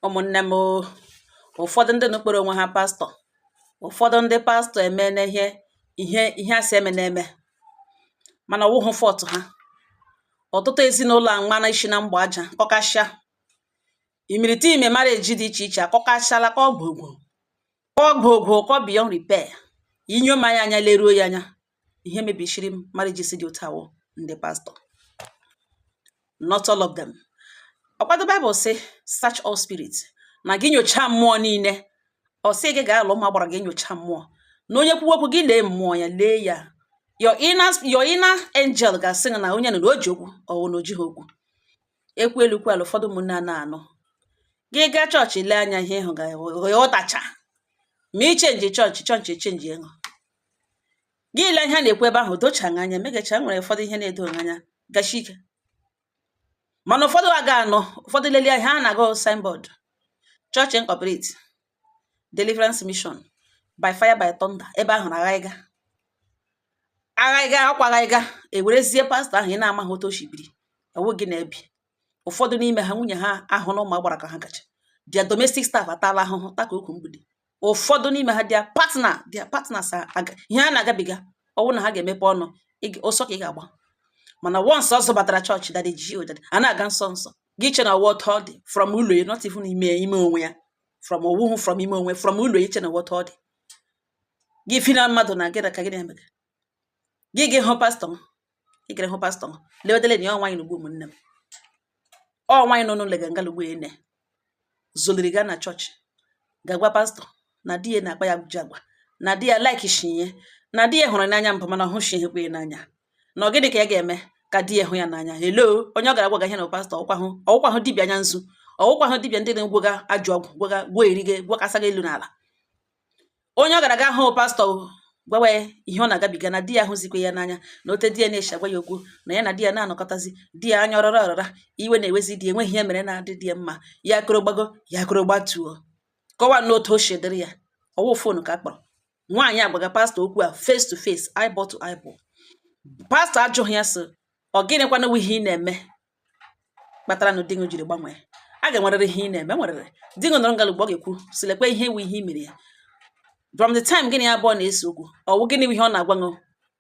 ụmụnne m ụfọdụ ndị nụ kpọrọ onwe ha pastọ ụfọdụ ndị pastọ emena ihe ihe a sị emena eme mana ọ wụhụ fault ha ọtụtụ ezinụlọ amana isi na mgba aja kụkasịa imirikiti ime marriage dị iche iche akụkachala ka ọgwụ ogwụ ka ọgwụ ogwụ ka ọ beyond repair i nyoma ya anya leruo ya anya ihe mebisiri marriage si dị otu a wụ ndị pastọ not all of them ọ kwa the baịbụl sị search all spirit na gị nyochaa mmụọ niile ọ sị gị gaa alụ ma gbara gị nyocha mmụọ na onye kwuwe okwu gị lee mmụọ ya lee ya your inner your inner angel ga-asị gị na onye nụ na o ji okwu ọ wụ na o jighị okwu ekwu elu kwu ala ụfọdụ ụmụnne a na-anụ gị gaa chọọchị lee anya ihe ị hụ ga-aghọtacha ma i change chọọchị chọọchị e change gị gị lee ihe a na-ekwu ebe ahụ dochaghị anya megacha nwere ụfọdụ ihe na-edoghị anya gasi ike mana ụfọdụ ga-anọ ụfọdụ lelie ihe a na-agụ signboard church incorporate deliverance mission by fire by thunder ebe ahụ na aghaghịga aghaghịga akwa aghaghịga ewerezie pastọ ahụ ị na-amaghị otu o si biri ewu gị na-ebi ụfọdụ n'ime ha nwunye ha ahụ na ụmụ agbara ka ha kacha their domestic staff atala ahụhụ taka ukwu mgbidi ụfọdụ n'ime ha their partner their partners ihe ha na-agabiga ọ wụ na ha ga-emepe ọnụ ọsọ ka ị ga-agba mana once ọ zọbatara chọọchị daddy G O daddy a na-aga nsọ nsọ gị che na ọ wụ otu ọ dị from ụlọ ya not even ime ime onwe ya from ọ wụhụ from ime onwe from ụlọ ya che na ọ wụ otu ọ dị gị efena mmadụ na gị na ka gị na-emega gị gị hụ pastọ m ị gara hụ pastọ m lewetele na ya ọ nwaanyị nụ ugbu a ụmụnne m ọ nwaanyị nọ n'ụlọ ga ngala ugbu a ene zoliri ga na chọọchị ga-agwa pastọ na di ya na-akpa ya ajọ agwa na di ya like shi ya na di ya hụrụ n'anya mbụ mana ọ hụshikwa ya n'anya na ọ gịnị ka ya ga-eme ka di ya hụ ya n'anya hello onye ọ gara gwaga ihe na pastọ ọ kwahụ ọ wụkwahụ dibịa anya nzu ọ wụkwahụ dibịa ndị na-agwọga ajọ ọgwụ gwọga gwọọ erige gwakasa gị elu na ala onye ọ gara ga hụ pastọ gwawa ya ihe ọ na-agabiga na di ya hụzikwa ya n'anya na otu di ya na-esi agwa ya okwu na ya na di ya na-anọkọtazi di ya anya ọrọrọ ọrọra iwe na-ewezi di enweghị ihe o mere na-adị di ya mma ya akọrọ gbago ya akọrọ gbatuo kọwa n'otu o si dịrị ya ọ wụ phone ka a kpọrọ nwaanyị agwaga pastọ okwu a face to face eyeball to eyeball pastọ ajụghị ya sị ọ gịnịkwana ihe ị na-eme kpatara na di gị jiri gbanwee a ga-enwerịrị ihe ị na-eme nwerịrị di gị nọrọ ngala ugbu a ọ ga-ekwu sị lekwa ihe wu ihe i mere ya from the time gị na ya abụọ na-ese okwu ọ wụ gịnị bụ ihe ọ na-agwa gị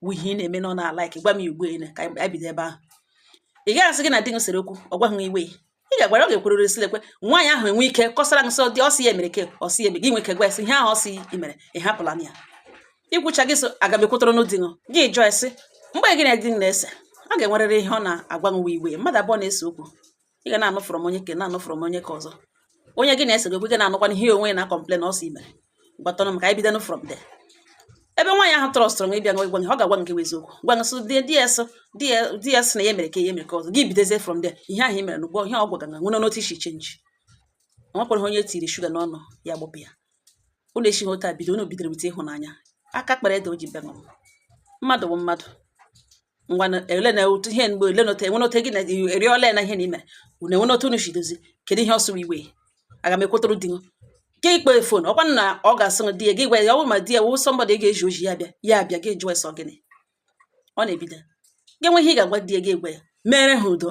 wu ihe ị na-eme na ọ na-a like gwa m ya ugbu ele ka anyị bido ebe ahụ ị gaghị asị gị na di gị sere okwu ọ gwaghị gị iwe ị ga-agwara ọ ga-ekwurịrị sị lekwe nwaanyị ahụ enwe ike kọsara gị so that ọ sị ya mere ke ọ sị ya eme gị nwee ike gwa ya sị ihe ahụ ọ sị i mere ị hapụla ime ya ikwucha gị so aga m ekwutụrụ n'ụdị ṅụ gị jụọ e sị mgbe gị na di gị na-ese ọ ga-enwerịrị ihe ọ na-agwa nwa iwe mmadụ abụọ na-ese okwu ị ga na-anụ from onye ke a na-anụ from onye ke ọzọ onye gị na-ese gị okwu gị na-anụkwana ihe onwe ya na-ekọmplen ọ sị i mere gwatụrụ m ka anyị bido from there ebe nwaanyị ahụ trọstụrụ ịbịa gwa gị ọ ga-agwa nke eziokwu gwa gị sị di ya sị na ya mere ke a ya mere ke ọzọ gị bidozie from there ihe ahụ i mere n'ugbo ihe ọ gwaga nwere n'otu i si chenji o nwekwara onye tiri shuga n'ọnụ ya gbụpụ ya unu esighị otu a bido unu bidoro with ịhụnanya aka kpara ede o ji bịa n'ụwa mmadụ bụ mmadụ ngwa na- ele na otu ihe mgbe ele nọta enwe nọta gị na eri ole na ihe na ime unu enwee otu unu si dozie kedu ihe ọ sụrụ iwe aga m ekwutụrụ di gị ka i kpọọ fon ọkwa na ọ ga-asị gị di ya gị gwa ya ọ bụrụ ma di ya wụ somebody ị ga-eji oji ya bịa ya abịa gị jụọ ya sị ọ gịnị ọ na-ebido gị nwee ihe ị ga-agwa di ya gị gwa ya mere ha udo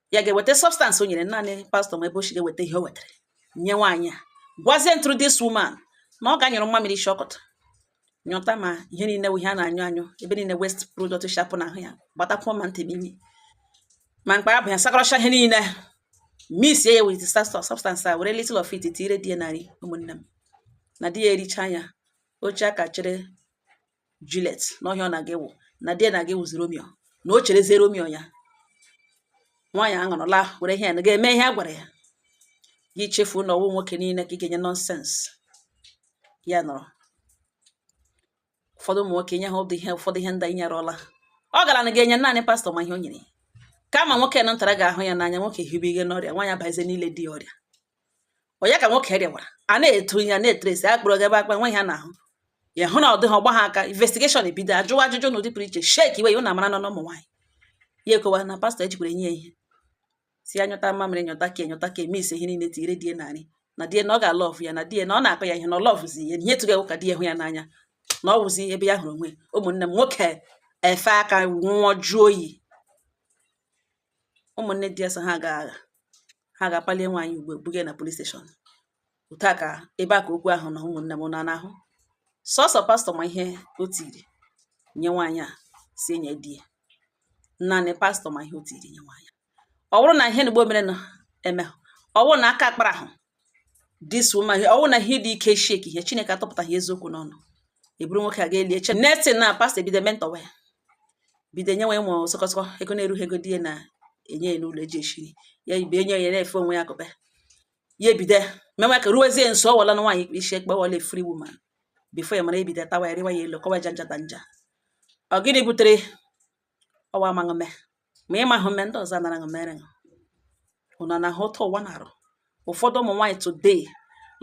ya ga-eweta substance o nyere naanị pastọ ma ebe o si ga-eweta ihe o wetara nye nwaanyị a gwazie ntụrụ this woman na ọ ga-anyụrụ mmamịrị shọkọt nyụta ma ihe niile ihe a na-anyụ anyụ ebe niile waste product shi apụ n'ahụ ya gbatakwuo ma ntị ma imi ma mkpa abụ ya sakọrọcha ihe niile mix ya with substance a were little of it tinyere di ya na nri ụmụnne m na di ya ericha ya o chee aka chere Juliet na ọ ihe ọ na-aga ịwụ na di ya na-aga ịwụzi Romeo na o cherezie Romeo ya nwaanyị aṅụrụla were ihe ya na-aga eme ihe a gwara ya gị chefuo na ọ wụ nwoke niile ka ị ga-enye nonsense ya nọrọ ụfọdụ ụmụ nwoke nye ha ụdị ihe ụfọdụ ihe ndị anyị nyerụọla ọ gara na ga-enye naanị pastọ ma ihe o nyere kama nwoke nọ ntara ga-ahụ ya n'anya nwoke hibe ihe n'ọrịa nwaanyị abazie n'ile di ya ọrịa onye ka nwoke rịwara a na-eto ihe a na-etresi a kpọrọ ga ebe akpa nwe ihe a n'ahụ ya hụ na ọ dịghị ọ gba ha aka investigeshọn ebido ajụwa ajụjụ n'ụdị pụrụ iche shekiwe ya unu mara nụ ụmụ nwaanyị ya akọwa na pastọ ejikwara enye ya ihe sị ya nyụta mmamịrị nyụta ke nyụta ke a mixie ihe niile tinyere di ya na nri na di ya na ọ ga-alọvụ ya na di ya na ọ na-akụ ya ihe na ọ lọvụzi ya ihe tụga ka di ya hụ ya n'anya na ọ wụzi ebe ya hụrụ onwe ụmụnne m nwoke efe aka nwụọ jụọ oyi ụmụnne di ya so ha ga agha ha ga-akpalie nwaanyị ugbo buga na polis steshọn otu a ka ebe a ka okwu ahụ nọ ụmụnne m na n'ahụ sọsọ pastọ ma ihe o tiri nye nwaanyị a sị ya nye di ya naanị pastọ ma ihe o tiri nye nwaanyị ọ bụrụ na ihe na ugbo mere na-eme ọ bụrụ na aka akparahụ this woman ọ bụrụ na ihe dị ike shekie ya chineke atọpụtaghị eziokwu n'ọnụ e buru nwoke a gaa lie e chee nothing na pastọ ebido mentọwa ya bido nyewe ụmụ sọkọsọkọ ego na-erughị ego di ya na-enye ya n'ụlọ eji eshiri ya ibe enye ya na-efe onwe ya akụpe ya ebido mewe ka ruwezie nso ọ wụla nwaanyị ikpe isi ekpe wụla a free woman bifo ya mara ebido tawa ya rịwa ya elu kọwa ja njata nja ọ gịnị butere ọ wụ amaghị eme ma ị mahụ eme ndị ọzọ anara ṅụ mere ṅụ ụnọ na ha ụtọ ụwa na-arụ ụfọdụ ụmụ nwaanyị today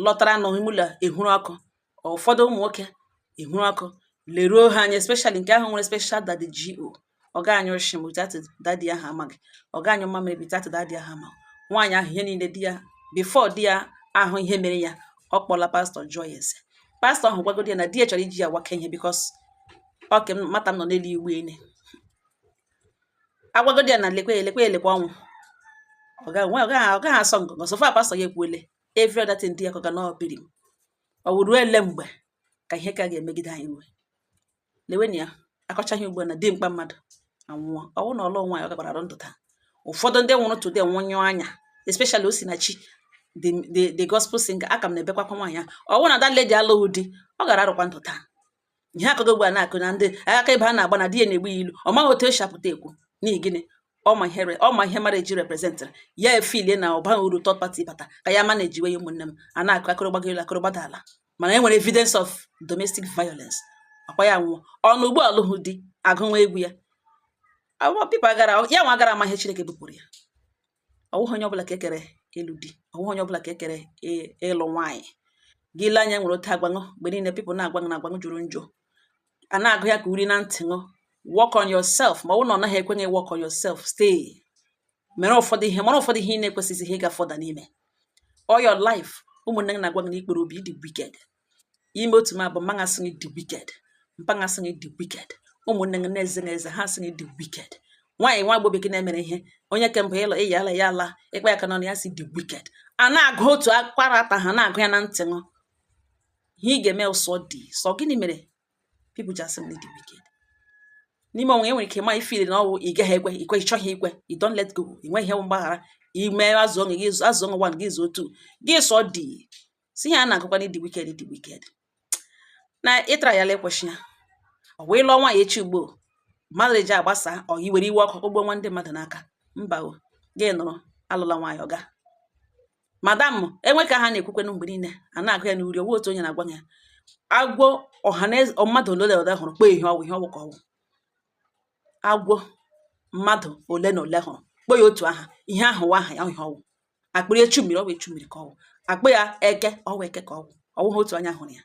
lọtara n'ime ụlọ ehuru ọkụ ụfọdụ ụmụ nwoke ihuru ọkụ leruo ha anya especially nke ahụ nwere special daddy GO ọ ga anyụ nshị without daddy ahụ amaghị ọ ga anyụ mamịrị without daddy ahụ amaghị nwaanyị ahụ ihe niile di ya before di ya ahụ ihe mere ya ọ kpọla pastọ jụọ ya ese pastọ ahụ gwagodi ya na di ya chọrọ iji ya waka ihe because ọke mata m nọ n'elu igbe ene agwagodi ya na lekwe elekwe elekwe ọnwụ ọ gaghị asọ ngọngọ so far pastọ ya ekwuele every other thing di ya kọga na ọbiri m ọ wụrụ ele mgbe ka ihe ka ga-emegide anyị iwe lewenụ ya akọcha ihe ugbu na dimkpa mmadụ anwụọ ọ wụ na ọ lụghị nwaanyị ọ gakwara arụ ndụ taa ụfọdụ ndị nwụrụ today nwụnyụọ anya especially Osinachi the the the gospel singer aka m na-ebekwa akwa nwaanyị ahụ ọ wụ na that lady alụghị di ọ gaara arụkwa ndụ taa ihe akụkọ ugbu a na-akọ na ndị akaebe a na-agba na di ya na-egbu ya ilu ọ maghị otu o si apụta ekwu n'ihi gịnị ọ ma ihe re- ọ ma ihe mara eji representịrị ya efeelie na ọ baghị uru third party bata ka ya ma na-ejiwe ya ụmụnne m a na-akọ akọrọ gbago elu akọrọ gbada ala mana e nwere evidence of domestic violence akwa ya wụ ọ nọ ugbu a alụhụ di agụwa egwu ya Awa- people gaara ya nwa gaara ama ihe Chineke bupụrụ ya ọ wụghị onye ọbụla ka e kere ịlụ di ọ wụghị onye ọbụla ka e kere ị- ịlụ nwaanyị gị ile anya nwere otu agwa ṅụ mgbe niile people na-agwa ṅụ na agwa ṅụ jọrọ njọ a na-agụ ya ka uri na ntị ṅụ work on yourself ma ọ bụrụ na ọ naghị ekwe gị work on yourself stay mere ụfọdụ ihe mara ụfọdụ ihe ị na-ekwesịghị ihe ịga further n'ime all your life ụmụnne gị na-agwa gị na ị kpọrọ obi ị dị wicked i mee otu i mebu mma ṅụ asị gị dị wicked mpa ṅụ asị gị dị wicked ụmụnne gị na-eze na eze ha asị gị dị wicked nwaanyị nwa agbọghọ bekee na-emere ihe onye ke mbụ ịlọ ịya ala ya ala ị kpa ya aka n'ọnụ ya sị ị dị wicked a na-agụ otu character ahụ na-agụ ya na ntị ṅụ ihe ị ga-eme ụsọ dị sọ gịnị mere people ji asị m dị wicked n'ime onwe enwere ike ma ị feel na ọ wụ ị gaghị ekwe ikwe ị chọghị ikwe you don't let go ị nweghị ihe mgbaghara ime azụ ọṅụ gị azụ ọṅụ gị zuo otu gị sọ dị sị ihe a na-agụkwa dị wicked dị wicked na ịtara ya lekwesị ya ọ wee lụọ nwaanyị echi ugbo mmadụ eji agbasa ọ yi were iwe ọkụ gbuo nwa ndị mmadụ n'aka mba o gị nọrọ alụla nwaanyị ọga madam enwe ka ha na-ekwukwenụ mgbe niile a na-agụ ya n'uri ọ wụghị otu onye na-agwa ya agwọ ọhaneze mmadụ ole ole hụrụ kpọọ ihe ọ wụ ihe ọ wụ ka ọ wụ agwọ mmadụ ole na ole hụrụ kpọọ ya otu aha ihe ahụ wụ aha ya ihe ọ wụ a kpọrọ ya echu mmiri ọ wụ echu mmiri ka ọ wụ a kpọ ya eke ọ wụ eke ka ọ wụ ọ wụghị otu anya hụrụ ya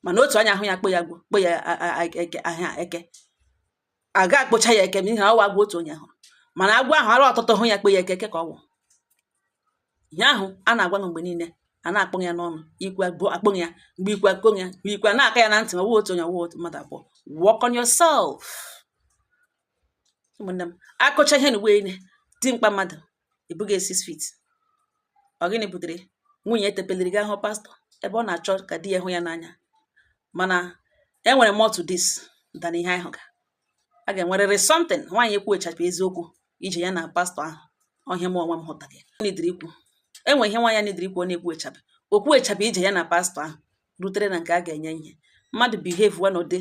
mana otu anya hụ ya kpọ ya agwọ kpọ ya eke aha eke a ga akpọcha ya eke n'ihi na ọ wụ agwọ otu onye hụrụ mana agwọ ahụ arụ ọtụtụ hụ ya kpọ ya eke eke ka ọ wụ ihe ahụ a na-agwa m mgbe niile a na-akpọ ya n'ọnụ ikwe bụ akpọ ya mgbe ikwe akpọ ya mgbe ikwe na-aka ya na ntị ma ọ wụ otu onye ọ wụ otu mmadụ abụọ work on yourself ụmụnne m akọcha ihe n'ụwa niile dimkpa mmadụ ị bụghị six feet ọ gịnị butere nwunye etepeliri ga ahụ pastọ ebe ọ na-achọ ka di ya hụ ya n'anya mana enwere more to this than ihe anyị hụga a ga-enwerịrị something nwaanyị ekwuechapụ eziokwu ije ya na pastọ ahụ ọ ihe a m onwe m hụtara ya nidiri ikwu enwe ihe nwaanyị nidiri ikwu ọ na-ekwuechapụ okwuechapụ ije ya na pastọ ahụ rutere na nke a ga-enye ihe mmadụ behave wa n'ụdị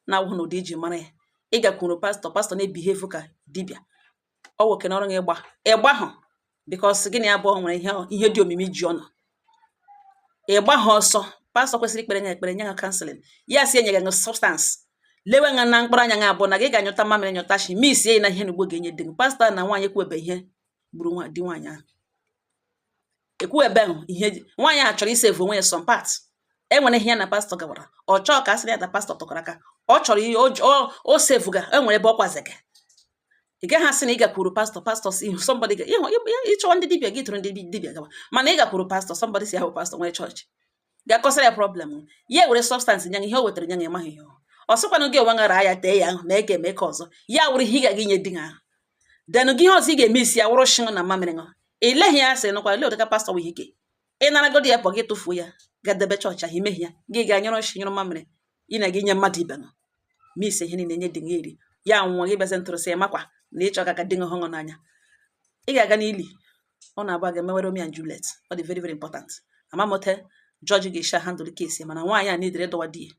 na-awụghị n'ụdị e ji mara ya ị gakwuru pastọ pastọ na-ebihevu ka dibịa ọ wụ oke na ọrụ gị ịgba ịgba hụ bikos gị na ya abụọ nwere ihe ihe dị omimi ji ụnụ ịgba ha ọsọ pastọ kwesịrị ikpere nya ekpere nye ha kanselin ya si enye gị ṅụ sọbstansị lewe ṅa na mkpụrụ anya ṅa abụọ na gị ga-anyụta mamịrị nyụta shị misie ya na ihe na ugbo ga-enye di gị pastọ na nwaanyị kwuebe ihe gburu di nwaanyị ahụ ekwuebehụ ihe nwaanyị a chọrọ isevu onwe ya some part enwere ihe ya na pastọ gawara ọ chọọ ka a sịrị ya na pastọ tikọrọ aka ọ chọrọ ihe o sevuga enwere ebe ọ kwazega ị gaghị asị na ị gakwuru pastọ pastọ si ihu somebody ga ịhụ ịchọwa ndị dibịa gị tụrụ ndị dibịa gawa mana ị gakwuru pastọ somebody sị ọ wụ pastọ nwere chọọchị ga-akọsara ya problem ya were sọbstansị nya ihe o wetara nya ịmaghị ihe ọ sịkwanụ gị onwe ṅara ya tee ya ahụ mee ke a mee ke ọzọ ya wụrụ ihe ị ga-aga inye di ha ahụ denụ gị ihe ọzọ ị ga-eme isi ya wụrụ shị ṅụ na mamịrị ṅụ ị leghị ya asịrị nụkwa i lee ụdị ke pastọ nwere ike ịnaragodi ya pụọ gị tụfuo ya gadebe chọọchị ahụ i mehie ya gị ga nyụrụ shị nyụrụ mamịrị ị na-aga inye mmadụ ibe ṅụ misie ihe niile nye di gị eri ya nwụọ gị bịazi ntụrụ asị ya makwa na ịchọ ka ka di gị hụ ṅụ n'anya ị ga-aga n'ili ụnụ abụọ ga-emewere Romeo and Juliet ọ dị very very important ama m ote jọji ga-eshi handụl kesi mana nwaanyị a nidiri dọwa di ya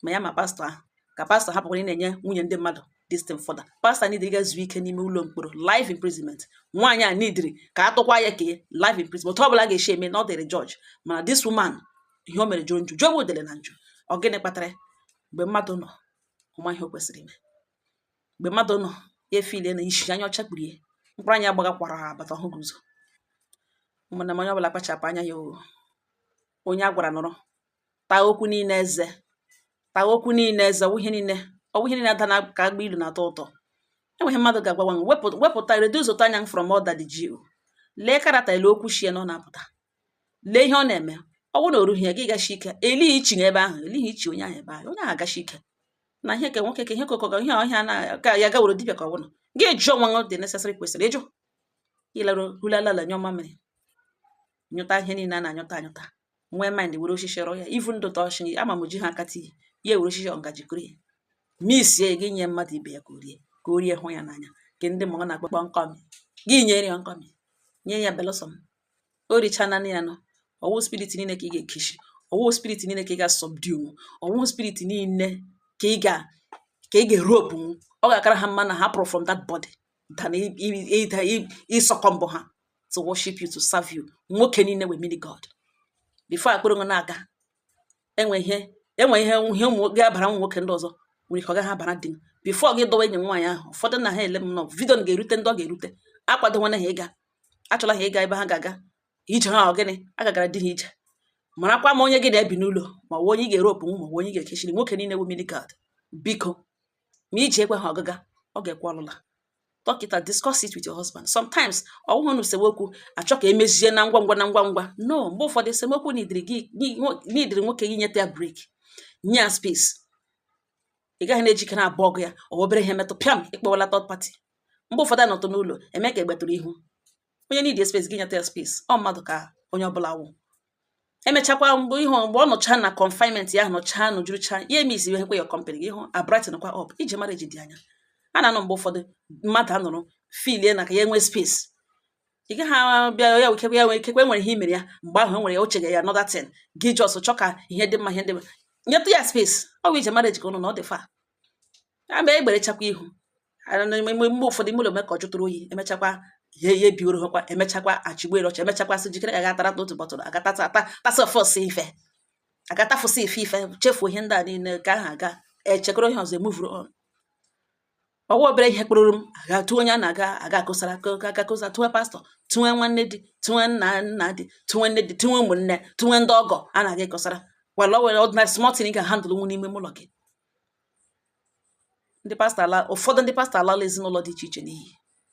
ma ya ma pastọ ahụ ka pastọ hapụkwara ịna-enye nwunye ndị mmadụ distin fọda pastọ nidiri ga zuo ike n'ime ụlọ mkpọrọ life imprisonment nwaanyị a nidiri ka a tụkwa ya ke life imprisonment ọ bụla ga-esi eme na ọ dịrị jọji mana this woman ihe o mere jọrọ njọ jọgbu udele na njọ ọ gịnị kpatara mgbe mmadụ nọ ọ ma ihe o kwesịrị ime mgbe mmadụ nọ ya efile na isi anya ọcha kpurie mkpụrụ anya gbagakwara ha abata ọ hụghị ụzọ ụmụnna m onye ọbụla kpachapụ anya ya oo onye a gwara nọrọ taa okwu niile eze taa okwu niile eze ọ wụ ihe niile ọ wụ ihe niile ada na ka agba ilu na-atọ ụtọ enweghị mmadụ ga-agwa nwa wepụta reduce ụtọ anya m from all that ji lee karata ele okwu shie n'ọnụ apụta lee ihe ọ na-eme ọ bụrụ na o rughị ya gị gashi ike elighị ichi n'ebe ahụ elighị ichi onye ahụ ebe ahụ onye ahụ agashi ike na ihe ke nwoke ka ihe kokọga ihe ọhịa na ka ya gawere dibịa ka ọ bụla gị jụọ nwa dị nesesịrị kwesịrị ịjụ ịlarụ hulalala nyụọ mamịrị nyụta ihe niile a na-anyụta anyụta nwee mind were osisi rụọ ya ivu ndụ tọọchị ama m ji ha akata iyi ya were osisi ngaji kụrụ ya misie ga nye mmadụ ibe ya ka o rie ka o rie hụ ya n'anya nke ndị mụrụ na-akpọ nkọmi gị nyere ya nkọmi nye ya belụsọ m o richana ya nọ ọwụ spirit niile ka ị ga-ekeshi ọwụ spirit niile ka ị ga-asubdue ọwụ spirit niile ka ị ga ka ị ga-eropu ọ ga-akara ha mma na ha pụrụ from that body than ịsuccumb ha to worship you to serve you nwoke niile wụ mini god before akpụrụ nwe na-aga enwe ihe enwe ihe ihe ụmụ ga-abara ụmụ nwoke ndị ọzọ nwere ike ọ gaghị abara di m before gị dọwa enyi nwaanyị ahụ ụfọdụ na ha ele m na video na ga-erute ndị ọ ga-erute akwadowana ha ịga achọla ha ịga ebe ha ga-aga ije ha ọ gịnị a gagara di ha ije marakwa ma onye gị na-ebi n'ụlọ ma onye ị ga-eropu ma onye ị ga-ekechiri nwoke niile bụ mini god biko ma iji ekwe ha ọgaga ọ ga-ekwe ọlụla talk it and discuss it with your husband sometimes ọ wụhụ na esemokwu a chọ ka emezie na ngwa ngwa na ngwa ngwa no mgbe ụfọdụ esemokwu needịrị nwoke gị nyeta ya break nye ya space ị gaghị na-ejikere abụọ gị ya ọ obere ihe metụ pịam ị kpọwala third party mgbe ụfọdụ a nọtụ n'ụlọ eme ka egbetụrụ ihu onye needi space gị nyeta ya space ọ mmadụ ka onye ọbụla wụ emechakwa mgbe ihe mgbe ọ nọcha na confinement ya nọcha nọjurucha ya emissie kwa ya company gị ihu abrighten kwa up ije marriage dị anya a na-anọ mgbe ụfọdụ mmadụ anọrọ feelie na ka ya nwee space ị gaghị a- bịa ya ikekwe ya nwere ikekwe e nwere ihe i mere ya mgbe ahụ e nwere ya o cheghị ya another thing gị just chọ ka ihe dị mma ihe dị mma nyetụ ya space ọ bụ ije marriage ka ụnụ na ọ dị far a bịa egberechakwa ihu mgbe mgbe ụfọdụ ime ụlọ eme ka ọ jụtụrụ oyi emechakwa ihe ihe biworo hekwa emechakwa achịgbere ọchị emechakwa sị jikere ga atara n'otu bọtụlụ agata ata tasa ọfọs ife agatafụsị ife ife chefuo ihe ndị a niile ka ahụ aga echekọrọ ihe ọzọ emovuru on ọwa obere ihe kpụrụrụm aga tụọ onye a na-aga aga akọsara aga kọsa tụọ pastọ tụọ nwanne di tụọ nna nna di tụọ nne di tụọ ụmụnne tụọ ndị ọgọ a na-aga ịkọsara wala o nwere ordinary small thing ị ga-handle nwu n'ime ụlọ gị ndị pastọ ala ụfọdụ ndị pastọ alala ezinụlọ dị iche iche n'iyi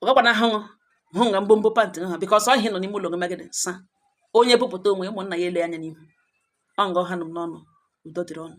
ọ gakwa na ahụhụ hụ nga mbombo pantị ha because ọ ihe nọ n'ime ụlọ gị magịdị sa onye bupụta onwe ụmụnna ya ele anya n'ihu ọ nga ọ ha nụ m n'ọnụ udo dịrị ụnụ